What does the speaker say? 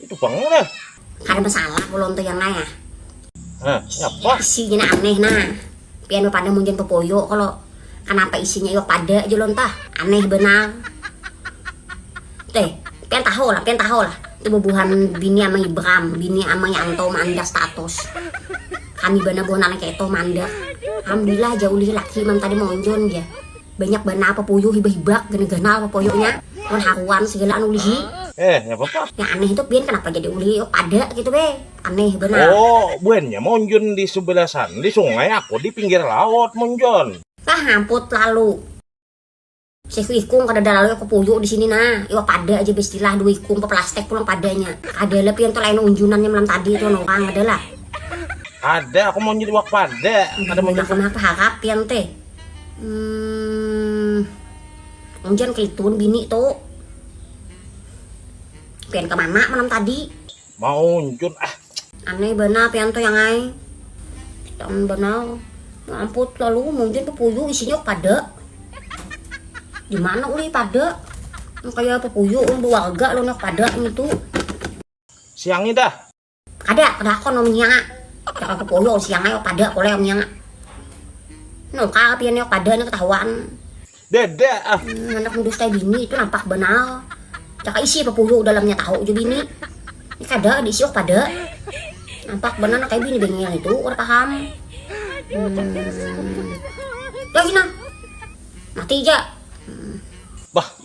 Itu bang lah. Kada masalah ulun tuh yang naya. Nah, apa? Isinya aneh nah. Pian pada mungkin pepoyo kalau kenapa isinya iwak pada aja lon tah. Aneh benang. Teh, pian tahu lah, pian tahu lah. Itu bubuhan bini ama Ibram, bini ama Yanto mandak status. Kami bana buhan anak itu mandak. Alhamdulillah jauh lagi laki man tadi monjon ya. Banyak banar papoyo hibak-hibak gana ganal papoyonya wan haruan segala anu ulihi. Eh, nya papa. Yang aneh itu pian kenapa jadi ulih iok ada gitu be. Aneh banar. Oh, buannya monjun di subelah sana di sungai aku di pinggir laut monjun. Tah hamput lalu. Sehu ikung kadada lalu iok papoyo di sini nah. Iok pada aja bestilah dua ikung papelastek pulang padanya. Kadala pian tu lain unjunannya malam tadi tu wan orang kadala. Kada aku monjun iwak pada. Kada monjun. Kenapa harap pian teh. Humm, unjan kelitun bini tu. Pian ka mana malam tadi? Maunjun ah. Aneh banar pian tu yang ai. Pitan banar. Mamput lalu maunjun pupuyu isinya oh kada. Di mana ulih pada? Kaya pupuyu oh berwarga lawan oh pada ini tu. Siangi dah. Kada, padahakon amun nya. Jaka bepoyo siang ae pada koleh amun nya. Nangkal pian nya pada nya ketahuan. Dada ah. Handak mendustai bini tu nampak banar. Jaka isi bepoyo dalam nya tahu jua bini. Ni kada diisi oh pada. Nampak banar nang kaya bini bengel nitu kada paham. Hmm. Lagi nah. Mati ja. Hmm. Bah.